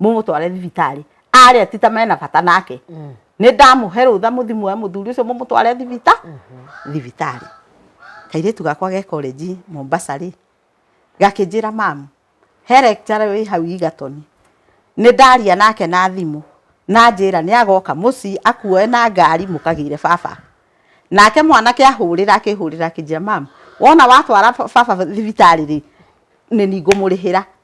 mũmũtware thibitarĩ arĩa ti ta mena bata nake mm. nĩ ndamũhe rũtha mũthi muoe mũthuri ũcio mũmũtware thibita mm-hmm. thibitarĩ kairĩtu gakwa ge korenji mombasa rĩ gakĩnjĩra mamu he lecture wĩ hau igatoni nĩ ndaria nake na thimũ na njĩra nĩ agoka mũciĩ akuoe na ngari mũkagĩire baba nake mwanake ahũrĩra akĩhũrĩra akĩnjĩra mamu wona watwara baba thibitarĩ rĩ nĩ ningũmũrĩhĩra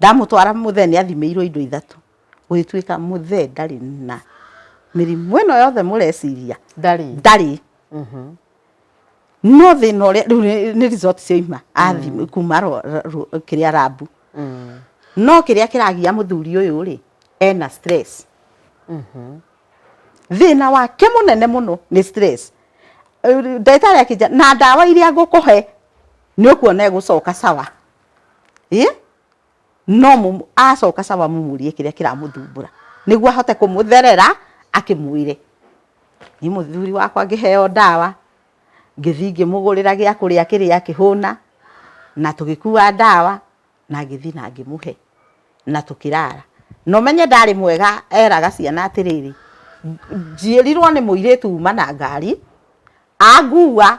Ndamũtwara mũthee nĩ athimĩirwo indo ithatũ, gũgĩtuĩka mũthee ndarĩ na mĩrimũ ĩno yothe mũreciria, ndarĩ, ndarĩ. No thĩna ũrĩa, rĩu nĩ result cioima athimwo, kuma kĩrĩa lab. No kĩrĩa kĩragia mũthuri ũyũ rĩ, ena stress. Thĩna wake mũnene mũno nĩ stress. Ndagĩtarĩ akĩnjĩra, na ndawa iria ngũkũhe nĩ ũkuona egũcoka sawa. ĩ no mũmũ- acoka caba mũmũrie kĩrĩa kĩramũthumbũra nĩguo ahote kũmũtherera akĩmwĩre nĩ mũthuri wakwa ngĩheo ndawa ngĩthiĩ ngĩmũgũrĩra gĩa kũrĩa kĩrĩa kĩhũna na tũgĩkua ndawa na ngĩthiĩ na ngĩmũhe na tũkĩrara na ũmenye ndarĩ mwega eraga ciana atĩrĩrĩ "Nj- njĩrirwo nĩ mũirĩtu uma na ngari angua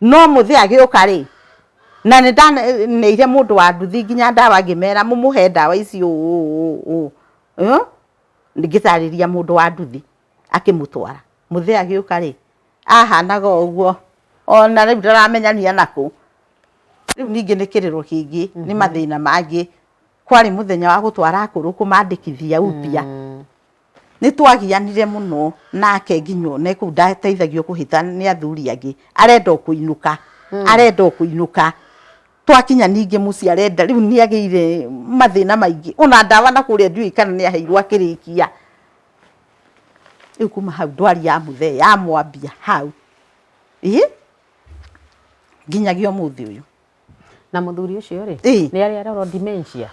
no mũthĩ agĩũka rĩ na nĩ ndaneire mũndũ wa nduthi nginya ndawa ngĩmera mũmũhe ndawa ici ũũ ngĩtarĩria mũndũ wa nduthi akĩmũtwara mũthĩ agĩũka rĩ ahanaga ũguo ona rĩu ndaramenya nĩ anakũ rĩu ningĩ nĩ kĩrĩro kĩngĩ nĩ mathĩna mangĩ kwarĩ mũthenya wa gũtwara akũrũ kũmandĩkithia upya Nĩ twagianire mũno nake nginya one kũu ndateithagio kũhĩta nĩ athuri angĩ, arenda o kũinũka, arenda o kũinũka. Twakinya ningĩ mũciĩ arenda, rĩu nĩ agĩire mathĩna maingĩ, o na ndawa na kũrĩa ndiũĩ kana nĩ aheirwo akĩrĩkia. Rĩu kuma hau ndwari ya mũthee yamwambia hau, ĩ, nginyagia ũmũthĩ ũyũ. Na mũthuri ũcio rĩ, Ĩ. nĩ arĩ arorwo dementia.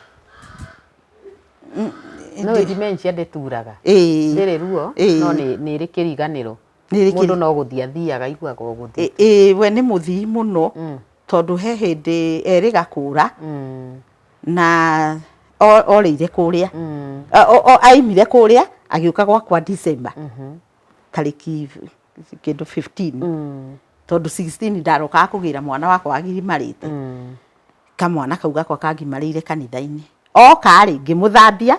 No Ndĩ- dementia ndĩturaga. ĩĩ Ndĩrĩ ruo, Ĩĩ. no nĩ nĩ ĩrĩ kĩriganĩro. Nĩ ĩrĩ Mũndũ kĩri- no gũthiĩ athiaga aiguaga o gũthiĩ. ĩ- ĩ, we nĩ mũthii mũno Mm, tondũ he hĩndĩ erĩ gakũra mm, na o- orĩire kũrĩa mm, A- o- o- aimire kũrĩa agĩũka gwakwa December mhm, tarĩki kĩndũ 15 mm. tondũ 16 ndarokaga kũgĩra mwana wakwa wagimarĩte mm. kamwana kau gakwa kangimarĩire kanitha-inĩ okarĩ ngĩmũthambia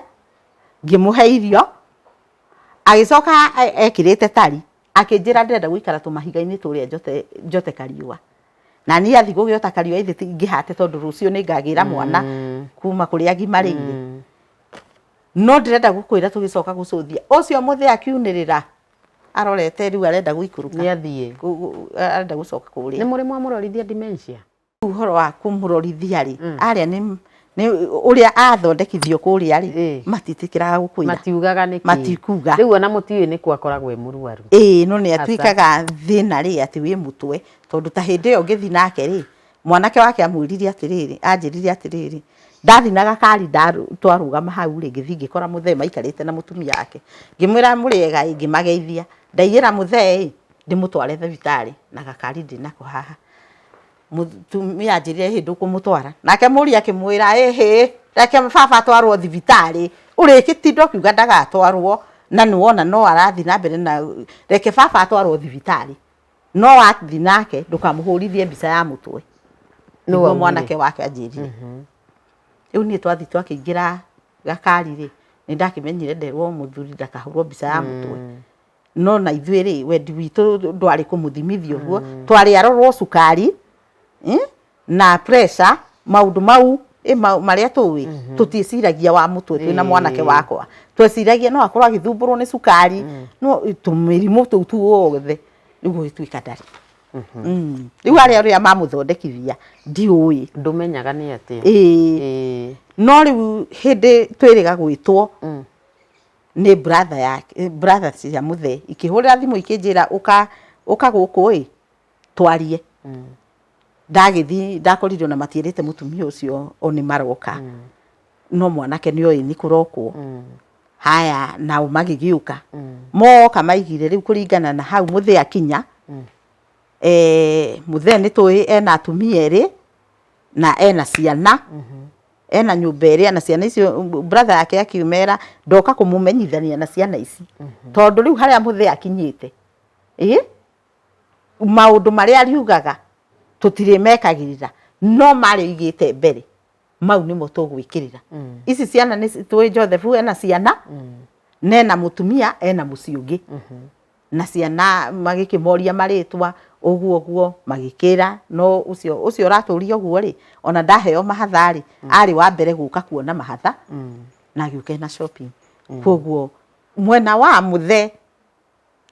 ngĩmũhe irio agĩcoka e, ekĩrĩte tari akĩnjĩra ndĩrenda gũikara tũmahiga-inĩ tũrĩa njote, njote kariũa na niä athi gå gä ota kariå aithä ingä hate tondå rå cio nä ngagä ra mwana mm. kuma kå rä a ngimarä ire mm. no ndĩrenda gũkwĩra tũgĩcoka gũcũthia ũcio mũthĩ akiunĩrĩra arorete rĩu arenda gũikũrũka nĩ athiĩ arenda gũcoka kũrĩa nĩ mũrĩ mwamũrorithia dementia uhoro wa kũmũrorithia rĩ mm. arĩa nĩ nĩ ũrĩa athondekithio kũrĩa rĩ matitikiraga gũkwĩra matiugaga nĩkĩ matikuga rĩu ona mũtiũĩ nĩ kwa akoragwo e mũrwaru ĩĩ no nĩ atuĩkaga thĩna rĩ atĩ wĩ mũtwe tondũ ta hĩndĩ ĩyo ngĩthi nake rĩ mwanake wake amwĩrire atĩrĩrĩ anjĩrire atĩrĩrĩ ndathinaga kari twarũgama hau rĩ ngĩthiĩ ngĩkora mũthee maikarĩte na mũtumia wake ngĩmwĩra mũrĩega ĩ ngĩmageithia ndaigĩra mũthee ĩ ndĩmũtware thibitarĩ na gakari ndĩ nako haha mũtumia anjĩrire ĩhĩ ndũkũmũtwara nake mũriũ akĩmwĩra ĩhĩ reke baba atwarwo thibitarĩ ũrĩgĩtinda ũkiuga ndagatwarwo na nĩwona no arathiĩ na mbere na reke baba atwarwo thibitarĩ. no wathi nake ndũkamũhũrithie mbica ya mũtwe nĩguo mwanake wake anjĩrire mhm. rĩu niĩ twathi twakĩingĩra gakari rĩ nĩ ndakĩmenyire nderwo mũthuri ndakahũrwo mbica ya mũtwe mm. no na ithuĩ rĩ wendi witũ ndwarĩ kũmũthimithia ũguo mm. twarĩ arorwo cukari eh? na pressure maundu mau eh, ma- maria tuwi tutieciragia wa mutwe twina Eh. mwanake wakwa tweciragia no akorwo agithumbũrwo nĩ cukari no tũmĩrimũ tũu tuothe nĩguo gĩtuĩka ndarĩ Mm. rĩu arĩa ũrĩa mamũthondekithia ndiũĩ ndumenyaga nĩ atĩa Ĩĩ. Ĩĩ. no rĩu hĩndĩ twĩrĩga gwĩtwo Mm. nĩ brother yake brother cia mũthee ikĩhũrĩra thimũ ikĩnjĩra ũka ũka gũkũ ĩ twarie mm. ndagĩthiĩ ndakorire ona matiĩrĩte mũtumia ũcio o nĩ maroka mm. no mwanake nĩ oĩ nĩ kũrokwo mm. haya nao magĩgĩũka mm. moka maigire rĩu kũringana na hau mũthĩ akinya mm. e, eh, mũthee nĩ tũĩ ena atumia erĩ na ena ciana mm -hmm ena nyumba ĩrĩa na ciana icio brother yake akiumera ndoka kumumenyithania na ciana ici mm -hmm. tondu riu haria muthe akinyite ii maũndũ marĩa ariugaga tũtirĩmekagĩrĩra no marĩa oigĩte mbere mau nĩmo tũgwĩkĩrĩra mm. ici ciana nĩ tũĩ Joseph ena ciana mm. na ena mũtumia ena mũciĩ ũngĩ mm -hmm. na ciana magĩkĩmoria marĩtwa ũguo ũguo magĩkĩra no ũcio ũcio ũratũria ũguo rĩ ona ndaheo mahatha rĩ mm. arĩ wa mbere gũka kuona mahatha mm. na agĩũka na shopping mm. koguo mwena wa mũthe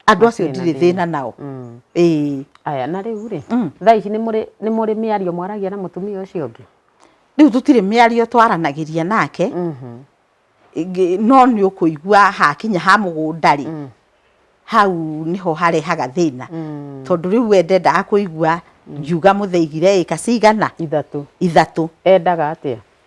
Andũ acio ndirĩ thĩna nao. Mm. Ĩĩ. Aya na rĩu rĩ, mm. thaa ici nĩ mũrĩ nĩ mũrĩ mĩario mwaragia na mũtumia ũcio ũngĩ? Rĩu tũtirĩ mĩario twaranagĩria nake. Mhm. No nĩ ũkũigua hakinya ha mũgũnda rĩ, mm. hau nĩho harehaga thĩna. Mm. Tondũ rĩu we ndendaga kũigua ngiuga mũthĩ igire ĩka cigana? Ithatũ. Ithatũ. Endaga atĩa?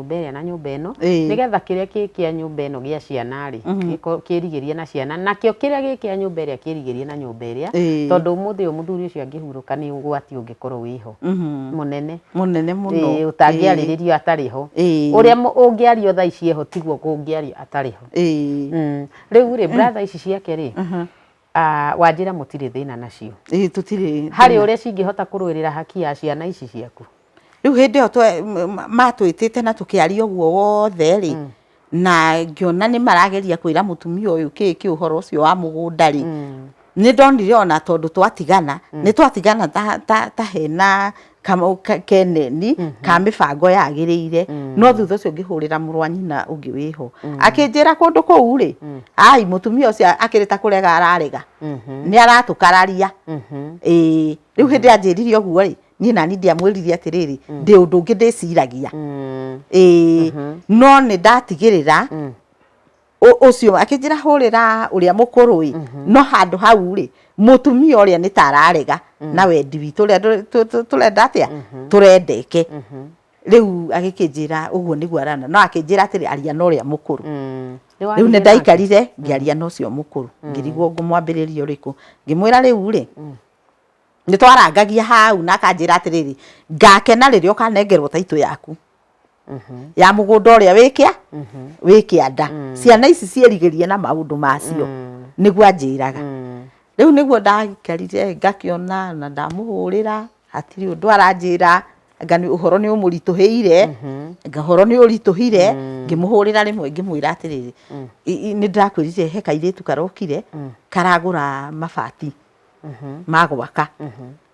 nyũmba ĩrĩa na nyũmba ĩno Ĩĩ. nĩgetha kĩrĩa kĩ kĩa nyũmba ĩno gĩa ciana rĩ gĩko- kĩrigĩrie na ciana nakĩo kĩrĩa gĩ kĩa nyũmba ĩrĩa kĩrigĩrie na nyũmba ĩrĩa Ĩĩ. tondũ ũmũthĩ ũyũ mũthuri ũcio angĩhurũka nĩ ũgwati ũngĩkorwo wĩho Mhm. mũnene mũnene mũno Ĩĩ, ũtangĩarĩrĩrio atarĩ ho Ĩĩ. ũrĩa mũ- ũngĩario thaa ici eho tiguo kũngĩario atarĩ ho Ĩĩ. Mm. rĩu rĩ brother ici ciake rĩ Ah, wanjĩra mũtirĩ thĩna nacio ĩĩ tũtirĩ harĩ ũrĩa cingĩhota kũrũĩrĩra haki ya ciana ici ciaku rĩu hĩndĩ ĩyo twe- m- m- matwĩtĩte na tũkĩaria ũguo wothe rĩ na ngĩona nĩ marageria kwĩra mũtumia ũyũ kĩĩ kĩ ũhoro ũcio wa mũgũnda rĩ nĩ ndonire ona tondũ twatigana nĩ twatigana ta, ta, ta hena keneni mm -hmm. ka mibango yagirire mm. no thutha ucio ngihurira muru wa nyina ungi wiho mm. akinjira kundu kuu ri mm. ai mutumia ucio akirita kurega ararega mm -hmm. ni aratukararia mm -hmm. eh riu hindi anjirire uguo ri ni na ni ndiamwirire atiriri mm. ndi undu ngi ndiciragia mm. eh mm -hmm. no ni ndatigirira mm. ũ- ũcio akĩnjĩra hũrĩra ũrĩa mũkũrũ ĩ no handũ hau rĩ mũtumia ũrĩa nĩ ta ararega na wendi witũ ũrĩa ndũ- tũ- tũ- tũrenda atĩa tũrendeke rĩu agĩkĩnjĩra ũguo nĩguo arana no akĩnjĩra atĩrĩ aria na ũrĩa mũkũrũ Mm. rĩu Nĩwarire nĩ nake? ndaikarire ngĩaria na ũcio mũkũrũ ngĩrigwo ngũmwambĩrĩria ũrĩkũ ngĩmwĩra rĩu rĩ nĩ twarangagia hau na akanjĩra atĩrĩrĩ ngakena rĩrĩa ũkanengerwo taitũ yaku ya mũgũnda ũrĩa wĩkĩa wĩ kĩanda ciana ici ciĩrigĩrie na maũndũ macio nĩguo anjĩraga rĩu nĩguo ndakarire ngakĩona na ndamũhũrĩra hatirĩ ũndũ aranjĩra anga nĩ ũhoro nĩ ũmũritũhĩire anga ũhoro nĩ ũritũhire ngĩmũhũrĩra rĩmwe ngĩmwĩra atĩrĩrĩ nĩ ndĩrakwĩrire he kairĩtu karokire karagũra mabati ma gwaka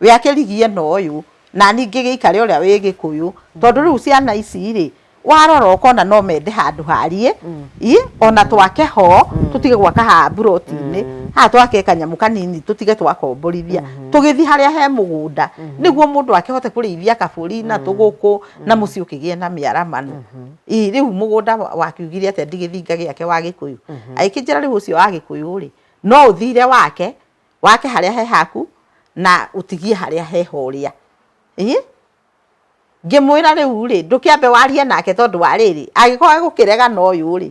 wĩ akĩrigia ĩno ũyũ na niĩ ngĩgĩikare ũrĩa wĩ gĩkũyũ tondũ rĩu ciana ici rĩ warora ũkona no mende handũ hariĩ mm. i ona twake ho mm. tũtige gwaka ha mburoti-inĩ mm. ha twake kanyamũ kanini tũtige twakomborithia mm-hmm. tũgĩthiĩ harĩa he mũgũnda mm-hmm. nĩguo mũndũ akĩhote kũrĩithia kabũri na tũgũkũ na mũciĩ ũkĩgĩe na mĩaramano mm-hmm. i rĩu mũgũnda wakiugire atĩa ndigĩthinga gĩake wa gĩkũyũ agĩkĩnjĩra rĩu ũcio wa gĩkũyũ rĩ no ũthire wake wake harĩa he haku na ũtigie harĩa he horĩa ĩ ngĩmwĩra rĩu rĩ ndũkĩambe warie nake tondũ wa rĩrĩ agĩkorwo gũkĩrega na ũyũ rĩ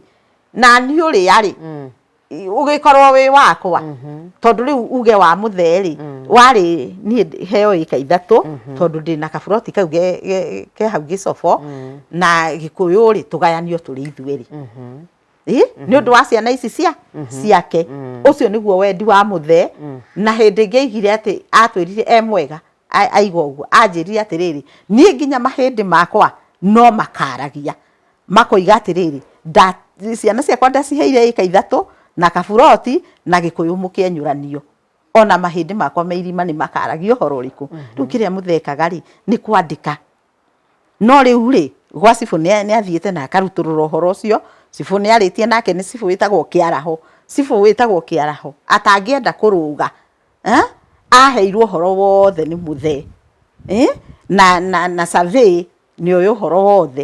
na niĩ ũrĩa rĩ mm. ũgĩkorwo wĩ wakwa mhm. tondũ rĩu uge wa mũtherĩ mm. warĩ niĩ heo ĩka ithatũ mhm. tondũ ndĩ na kaburoti kau ke hau gĩcobo mm. na gĩkũyũ rĩ tũgayanio tũrĩ ithuerĩ mhm. ĩ mhm. nĩ ũndũ wa ciana ici cia mhm. ciake mhm. ũcio nĩguo wendi wa mũthee na hĩndĩ ĩngĩ aigire atĩ atwĩrire e mwega aiga ũguo anjĩrire atĩrĩrĩ niĩ nginya mahĩndĩ makwa no makaragia makoiga atĩrĩrĩ ciana ciakwa ndaciheire ĩka ithatũ na kaburoti na gĩkũyũ mũkĩenyũranio ona mahĩndĩ makwa me irima nĩ makaragia ũhoro ũrĩkũ rĩu kĩrĩa mũthekaga rĩ nĩ kwandĩka No rĩu rĩ, gwa cibũ nĩ athiĩte na akarutũrũra ũhoro ũcio, cibũ nĩ arĩtie nake nĩ cibũ wĩtagwo Kĩaraho. Cibũ wĩtagwo Kĩaraho atangĩenda kũrũga aheirwo ũhoro wothe nĩ mũthee na survey nĩ oĩ ũhoro wothe.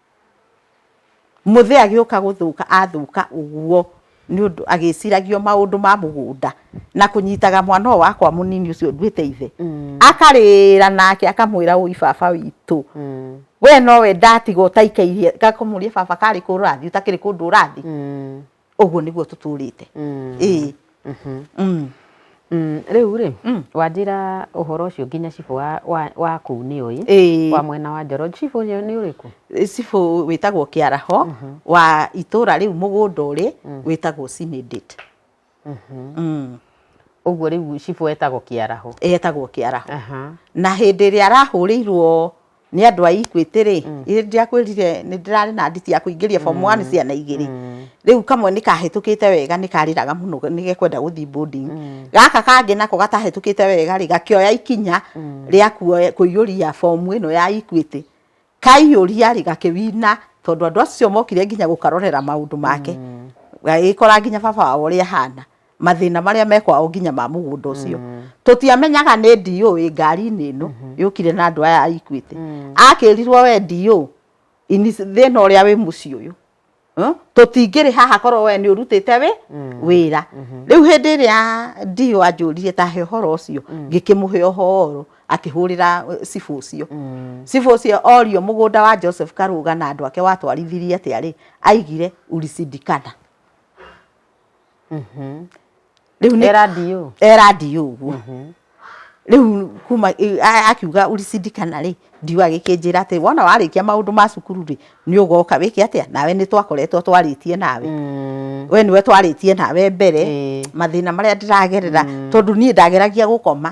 Mũthee agĩũka gũthũka athũka ũguo nĩ ũndũ agĩciragio maũndũ ma mũgũnda na kũnyitaga mwana ũyũ wakwa mũnini ũcio nduĩte ithe, akarĩra nake akamwĩra ũi baba witũ, we nowe ndatiga ũtaikaire, ngakamũria baba karĩ kũ ũrathiĩ ũtakĩrĩ kũndũ ũrathiĩ? ũguo nĩguo tũtũrĩte ĩĩ Mm. Mm, rĩu rĩ Mm. wanjĩra ũhoro ũcio nginya cibũ wa- wa- wa kũu nĩ ũyĩ Ĩĩ. wa mwena wa njoro cibũ ũyũ nĩ ũrĩkũ cibũ wĩtagwo kĩaraho wa itũra rĩu mũgũnda ũrĩ wĩtagwo Sinidate. Mm. ũguo rĩu cibũ etagwo kĩaraho etagwo kĩaraho Aha. na hĩndĩ ĩrĩa arahũrĩirwo nĩ andũ a Equity rĩ, mm. ndĩrakwĩrire nĩ ndĩrarĩ na nditi ya kũingĩria form 1 mm. ciana igĩrĩ mm. rĩu kamwe nĩ kahĩtũkĩte wega nĩ karĩraga mũno nĩ gekwenda gũthiĩ boarding mm. gaka kangĩ nako gatahĩtũkĩte wega rĩ gakĩoya ikinya mm. rĩa kũiyũria form ĩno ya Equity kaiyũria rĩ gakĩwina tondũ andũ acio mokire nginya gũkarorera maũndũ make mm. gagĩkora nginya baba wao ũrĩa ahana mathĩna marĩa mekwa o nginya ma mũgũnda ũcio mm. tũtiamenyaga nĩ DO ĩ ngari-inĩ ĩno mm-hmm. yũkire na andũ aya aikuĩte mm. akĩrirwo we DO thĩna ũrĩa wĩ mũciĩ ũyũ hm? tũtingĩrĩ haha korwo we nĩ ũrutĩte wĩ mm. wĩra mm-hmm. rĩu hĩndĩ ĩrĩa DO anjũrire ta he ũhoro ũcio ngĩkĩmũhe ũhoro akĩhũrĩra eh, cibũ ũcio mm. cibũ ũcio orio mũgũnda wa Joseph Karũga na andũ ake watwarithirie atĩa rĩ aigire ulisidikana mhm. rĩu nĩ era ndiũ ũguo mhm. rĩu kuma akiuga urisindikana rĩ ndiwa gĩkĩnjĩra atĩ wona warĩkia maũndũ ma cukuru rĩ nĩ ũgoka wĩke atĩa nawe nĩ twakoretwo twarĩtie nawe mm. we nĩwe twarĩtie nawe mbere mathĩna marĩa ndĩragerera mm. tondũ niĩ ndageragia gũkoma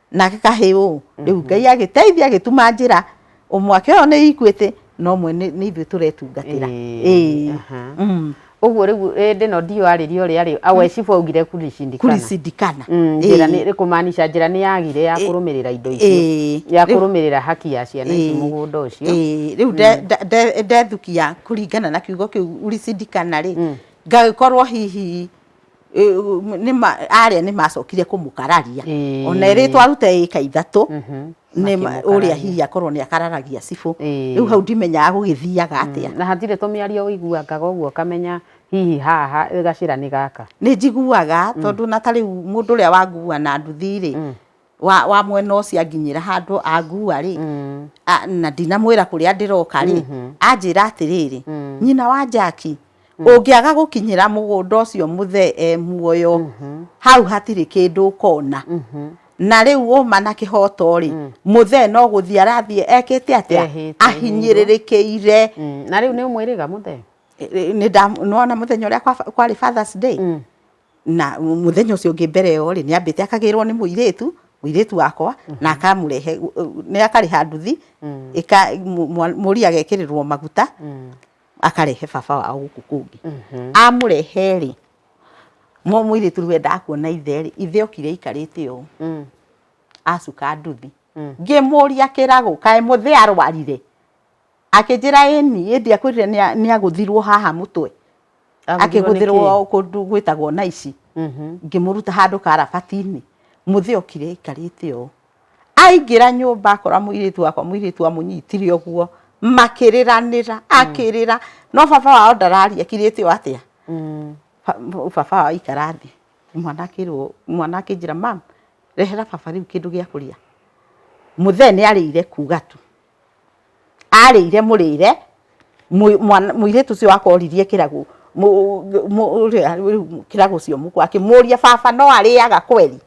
nake kahĩ ũũ rĩu mhm. ngai agĩteithia agĩtuma njĩra ũmwake ũyũ nĩ ikuĩtĩ no mwe nĩ ithuĩ tũretungatĩra mm. ũguo rĩu ĩndĩ no ndiũ arĩria ũrĩa rĩ awecibu augire kuricindikana mm, njĩra nĩ kũmaanisha njĩra nĩ yagire ya kũrũmĩrĩra indo icio ya kũrũmĩrĩra haki ya ciana ici mũgũnda ũcio rĩu mm. ndethukia kũringana na kiugo kĩu uricindikana rĩ ngagĩkorwo hihi arĩa nĩ macokire kũmũkararia ona ĩrĩ twarute ĩka ithatũ ũrĩa hihi akorwo nĩ akararagia cibũ rĩu hau ndimenyaga gũgĩthiaga atĩa na hatirĩ tũmĩario ũiguangaga ũguo ũkamenya hihi haha gacĩra nĩ gaka nĩ njiguaga tondũ ona ta rĩu mũndũ ũrĩa wangua na nduthi rĩ wa, wa mwena ũcio anginyĩra handũ angua rĩ a- na ndinamwĩra kũrĩa ndĩroka rĩ anjĩra atĩrĩrĩ nyina wa njaki ũngĩaga gũkinyĩra mũgũnda ũcio mũthee e muoyo hau hatirĩ kĩndũ ũkona na rĩu ũma na kĩhoto rĩ mũthee no gũthiĩ arathiĩ ekĩte atĩa Ehĩtĩrĩirwo. ahinyĩrĩrĩkĩire Mm, na rĩu nĩ ũmwĩrĩga mũthee nĩndamwona mũthenya ũrĩa kwa- kwarĩ fathers day na mũthenya ũcio ũngĩ mbere ĩyo rĩ, nĩ ambĩte akagĩrwo nĩ mũirĩtu, mũirĩtu wakwa, na akamũrehe, nĩ akarĩha nduthi, ĩka, mũ- mwa- mũriũ agekĩrĩrwo maguta, akarehe baba wao gũkũ kũngĩ. Amũrehe rĩ, mũ- mũirĩtu rĩu endaga kuona ithe rĩ, ithe okire aikarĩte ũũ, acuka nduthi. Ngĩmũria kĩragũ, kaĩ mũthee arwarire? Akĩnjĩra ĩni, ĩndĩ akwĩrire nĩ agũthirwo haha mũtwe, akĩgũthĩrwo kũndũ gwĩtagwo na ici, mhm. ngĩmũruta handũ karabati-inĩ, mũthĩ okire aikarĩte ũũ, aingĩra nyũmba akora mũirĩtu wakwa, mũirĩtu amũnyitire ũguo, makĩrĩranĩra, mm. akĩrĩra, no baba wao ndararia, kirĩte ũũ atĩa, mm. baba wao aikara thĩ, mwana akĩrwo, mwana akĩnjĩra mama, rehera baba rĩu kĩndũ gĩa kũrĩa, mũthee nĩ arĩire kuga tu. arĩire mũrĩre mũirĩtu ũcio wakwa oririe kĩragũ kĩragũ ũcio mũkwa akĩmũria baba no arĩaga kweri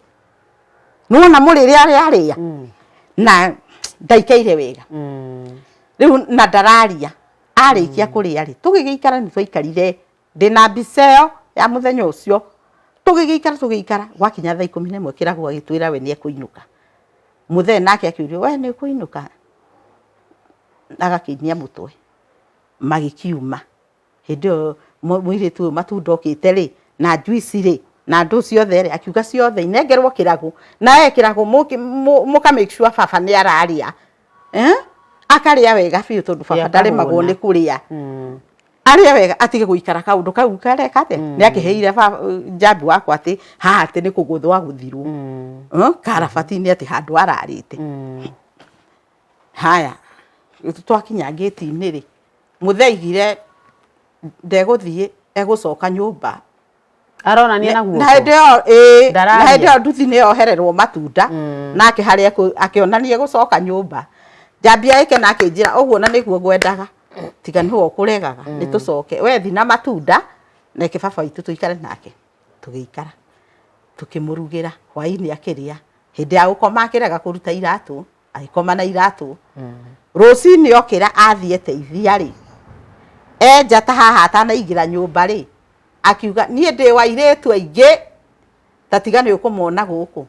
nĩwona mũrĩre ũrĩa arĩa mm. na ndaikaire wega mm. rĩu na ndararia arĩkia mm. kũrĩa rĩ tũgĩgĩikara nĩ twaikarire ndĩna mbica ĩyo ya mũthenya ũcio, tũgĩgĩikara tũgĩgĩikara gwakinya thaa ikũmi na ĩmwe Kĩragũ agĩtwĩra we nĩekũinũka. Mũthee nake akĩũrio we nĩũkũinũka? agakĩinia mũtwe. Magĩkiuma, hĩndĩ ĩyo mũirĩtu ũyũ matunda okĩte rĩ, na njuici rĩ, na ndũ ciothe rĩ, akiuga ciothe inengerwo Kĩragũ, nawe Kĩragũ mũka make sure baba nĩararĩa. eh? akarĩa wega biũ tondũ baba ndaremagwo nĩ kũrĩa mm. arĩa wega atige guikara kaundu kau kare kate mm. ni akiheire ba jambi wakwa ati ha ati ni kuguthwa guthirwo mm. huh? Eh, karabati ni ati handu ararite mm. haya twakinya ngiti ni ri mutheigire ndeguthie egucoka nyumba aronania na guoko na hĩndĩ ĩyo ĩĩ na hĩndĩ ĩyo nduthi nĩ yohererwo matunda mm. nake harĩa akĩonania gũcoka nyũmba njambia ĩke na akĩnjĩra ũguo na nĩguo ngwendaga tiga nĩ ho ũkũregaga mm. nĩ tũcoke we thi na matunda na ĩke baba witũ tũikare nake tũgĩikara tũkĩmũrugĩra hwaĩ-inĩ akĩrĩa hĩndĩ ya gũkoma akĩrega kũruta iratũ agĩkoma na iratũ rũcinĩ okĩra athiĩ teithia rĩ enja ta haha atanaingĩra nyũmba rĩ akiuga niĩ ndĩ wa irĩtu aingĩ ta tiga nĩ ũkũmona gũkũ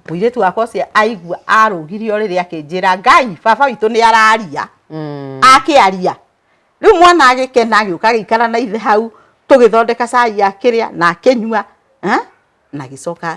mũirĩtu wakwa ũcio aigua arũgirio rĩrĩ akĩnjĩra ngai baba witũ nĩ araria akĩaria rĩu mwana agĩkena agĩũka agĩikara na ithe hau tũgĩthondeka cai akĩrĩa na akĩnyua eh, na agĩcoka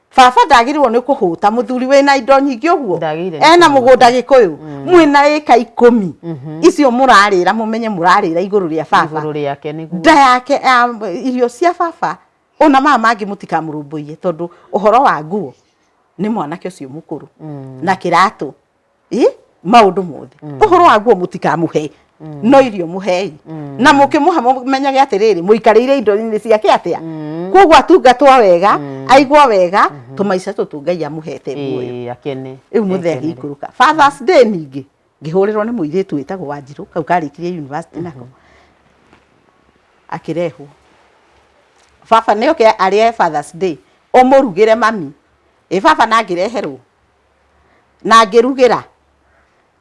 Baba ndagĩrĩirwo nĩ kũhũta mũthuri wĩna indo nyingĩ ũguo ena mũgũnda gĩkũyũ mm. mwĩna ĩka ikũmi mhm. icio mũrarĩra mũmenye mũrarĩra igũrũ rĩa baba nda yake irio cia baba ona maya mangĩ mũtikamũrũmbũiye tondũ ũhoro wa nguo nĩ mwanake ũcio mũkũrũ mm. na kĩratũ ĩ maũndũ mothe mm. ũhoro waguo mũtikamũhe mm. no irio mũhei mm. na mũkĩmũha mũmenyage atĩrĩrĩ mũikarĩire indo-inĩ ciake atĩa koguo atungatwo wega aigwo wega mm-hmm. tũmaica tũtũ ngai amũhete muoyo rĩu mũthee akĩikũrũka fathers day ningĩ ngĩhũrĩrwo nĩ mũirĩtu wĩtagwo wanjirũ kau karĩkirie university nako mm-hmm. akĩrehwo baba nĩ oke arĩe fathers day ũmũrugĩre mami ĩ baba na ngĩreherwo na ngĩrugĩra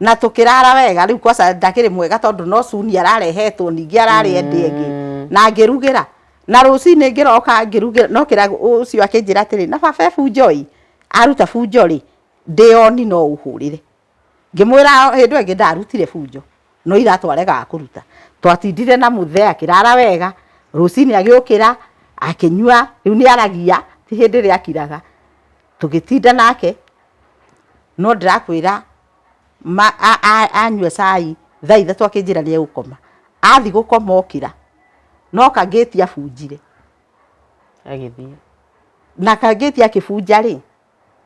na tũkĩrara wega rĩu kwaca ndakĩrĩ mwega tondũ no cuni ararehetwo ningĩ ararĩ ende ĩngĩ mm. na ngĩrugĩra na rũcinĩ ngĩroka ngĩrugĩra no kĩra ũcio akĩnjĩra atĩrĩ na baba ebunjoi aruta bunjo rĩ ndĩoni no ũhũrĩre ngĩmwĩra hĩndĩ ĩngĩ ndarutire bunjo no iratwarega kũruta twatindire na mũthee akĩrara wega rũcinĩ agĩũkĩra akĩnyua rĩu nĩ aragia ti hĩndĩ ĩrĩa akiraga Tũgĩtinda nake, no ndĩrakwĩra ma a a anyua cai thaa ithatũ akĩnjĩra nĩegũkoma. Athiĩ gũkoma okĩra, no kangĩti abunjire, agĩthiĩ. Na kangĩti akĩbunja-rĩ,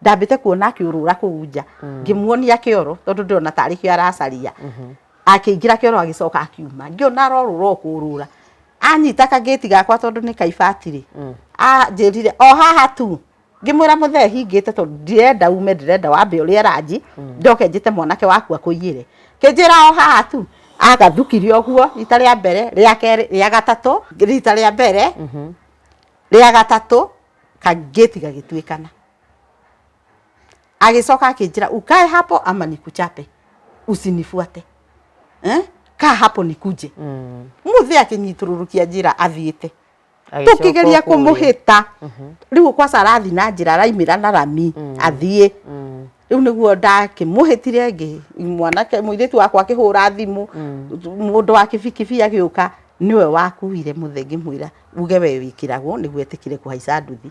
ndambĩte kuona akĩũrũra kũu nja, ngĩmuonia kĩoro, tondũ ndĩrona tarĩ kĩo aracaria. Akĩingĩra kĩoro agĩcoka akiuma. Ngĩona arorũra o kũũrũra. Anyita kangĩti gakwa tondũ nĩ ka ibati-rĩ, anjĩrire, o haha tu. ngĩmwĩra mũthee hingĩte tondũ ndirenda ume ndirenda wambe ũrĩa ranji ndoke njĩte mwanake waku akũiyĩre kĩnjĩra o haha tu agathukire ũguo rita rĩa mbere rĩa kerĩ rĩa gatatũ rita rĩa mbere rĩa gatatũ kangĩti gagĩtuĩkana agĩcoka akĩnjĩra ukae hapo ama nikuchape usinifuate eh? kaa hapo nikuje mũthee akĩnyitũrũrũkia njĩra athiĩte tũkĩgeria kũmũhĩta mhm. rĩu kwaca arathi na njĩra araimĩra na rami mm. athiĩ mm. rĩu nĩguo ndakĩmũhĩtire ngĩ mwanake mũirĩtu wakwa akĩhũra thimũ mm. mũndũ wa kĩbikibi agĩũka niwe wakuire muthe ngimwira uge we wikiragwo niguo etikire kuhaica nduthi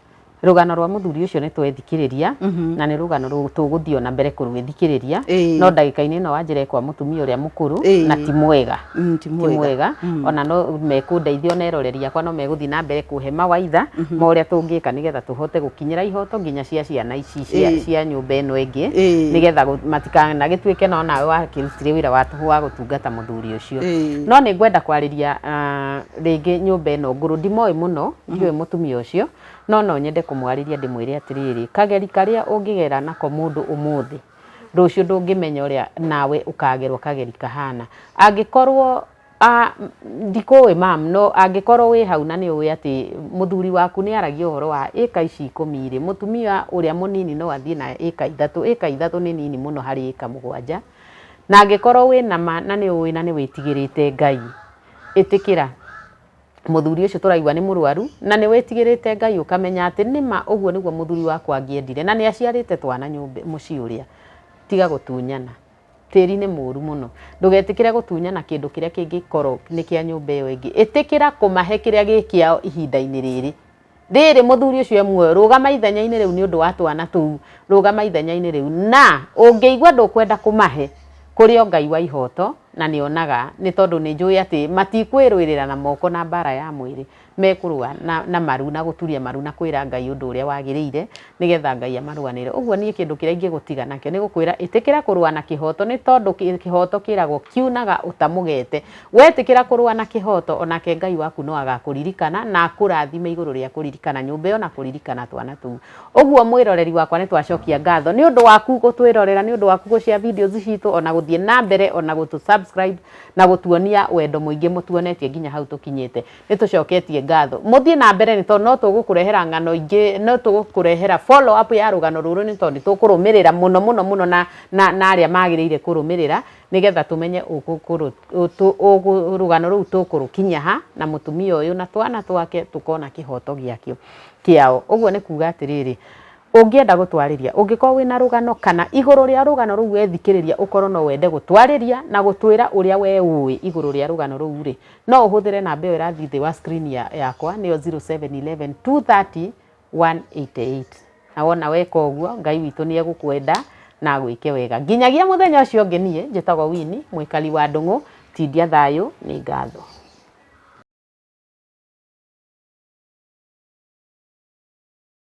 rũgano rwa mũthuri ũcio nĩ twethikĩrĩria Mhm. na nĩ rũgano rũ- tũgũthiĩ ona mbere kũrwĩthikĩrĩria Ĩĩ. no ndagĩka-inĩ ĩno wanjĩre kwa mũtumia ũrĩa mũkũrũ Ĩĩ. na ti mwega Mm, ti ti mwega mwega Mm. ona no mekũndeithia ona eroreri yakwa no megũthiĩ na mbere kũhe mawaitha ma ũrĩa tũngĩka nĩgetha tũhote gũkinyĩra ihoto nginya cia ciana ici cia, Ĩĩ. cia nyũmba ĩno ĩngĩ Ĩĩ. nĩgetha gũ- matikanagĩtuĩke no nawe wakĩrutire wĩra wa tũhũ wa gũtungata mũthuri ũcio Ĩĩ. no nĩ ngwenda kwarĩria ah, rĩngĩ nyũmba ĩno ngũrũ ndimoĩ mũno Ndiũĩ mũtumia ũcio, no no nyende kũmwarĩria ndĩmwĩre atĩrĩrĩ, kageri karĩa ũngĩgera nako mũndũ ũmũthĩ, rũciũ ndũngĩmenya ũrĩa nawe ũkagerwo kageri kahana. Angĩkorwo a ndikũĩ mam, no angĩkorwo wĩ hau na nĩ ũĩ atĩ mũthuri waku nĩ aragia ũhoro wa ĩka ici ikũmi rĩ, mũtumia ũrĩa mũnini no athiĩ na ĩka ithatũ, ĩka ithatũ nĩ nini mũno harĩ ĩka mũgwanja, na angĩkorwo wĩna ma na nĩ ũĩ na nĩ wĩtigĩrĩte Ngai, ĩtĩkĩra. mũthuri ũcio tũraigua nĩ mũrwaru na nĩ wĩtigĩrĩte Ngai ũkamenya atĩ nĩma ũguo nĩguo mũthuri wakwa angĩendire na nĩ aciarĩte twana nyũmba mũciĩ ũrĩa tiga gũtunyana tĩri nĩ mũru mũno ndũgetĩkĩre gũtunyana kĩndũ kĩrĩa kĩngĩkorwo nĩ kĩa nyũmba ĩyo ĩngĩ ĩtĩkĩra kũmahe kĩrĩa gĩ kĩao ihinda-inĩ rĩrĩ Rĩrĩ, mũthuri ũcio e muoyo, rũgama ithenya-inĩ rĩu nĩ ũndũ wa twana tũu, rũgama ithenya-inĩ rĩu. Na ũngĩigua ndũkwenda kũmahe, kũrĩ o Ngai wa ihooto, na nĩ onaga, nĩ tondũ nĩ njũĩ atĩ matikwĩrũĩrĩra na moko na mbaara ya mwĩrĩ, mekũrũa na maru na gũturia maru na kwĩra Ngai ũndũ ũrĩa wagĩrĩire, nĩ getha Ngai amarũanĩre. Ũguo niĩ kĩndũ kĩrĩa ingĩgũtiga nakĩo nĩ gũkwĩra ĩtĩkĩra kũrũa na kĩhooto nĩ tondũ kĩhooto kĩragwo kiunaga ũtamũgete. Wetĩkĩra kũrũa na kĩhooto, o nake Ngai waku no agakũririkana na akũrathime igũrũ rĩa kũririkana nyũmba ĩyo na kũririkana twana tũu. Ũguo mwĩroreri wakwa nĩ twacokia ngatho nĩ ũndũ waku gũtwĩrorera, nĩ ũndũ waku gũ share videos citũ o na gũthiĩ na mbere o na gũtũ subscribe na gũtuonia wendo mũingĩ mũtuonetie nginya hau tũkinyĩte. Nĩ tũcoketie ngatho. Mũthiĩ na mbere nĩ tondũ no tũgũkũrehera ng'ano ingĩ, no tũgũkũrehera follow up ya rũgano rũrũ nĩ tondũ nĩ tũkũrũmĩrĩra mũno mũno mũno na na na arĩa magĩrĩire kũrũmĩrĩra nĩgetha tũmenye ũgũkũrũ ũtũ ũgũ rũgano rũu tũkũrũkinyia ha na mũtumia ũyũ na twana twake tũkona kĩhoto gĩakĩo kĩao. Ũguo nĩ kuga atĩrĩrĩ, ũngĩenda gũtwarĩria, ũngĩkorwo wĩna rũgano kana igũrũ rĩa rũgano rũu wethikĩrĩria ũkorwo no wende gũtwarĩria na gũtwĩra ũrĩa we ũĩ igũrũ rĩa rũgano rũu rĩ, no ũhũthĩre namba ĩyo ĩrathiĩ thĩ wa screen ya, yakwa nĩyo 0711 230 188 na wona weka ũguo ngai witũ nĩ egũkwenda na agwĩke wega nginyagia mũthenya ũcio ũngĩ niĩ njĩtagwo wini mwĩkari wa ndũng'ũ tindia thayũ nĩ ngatho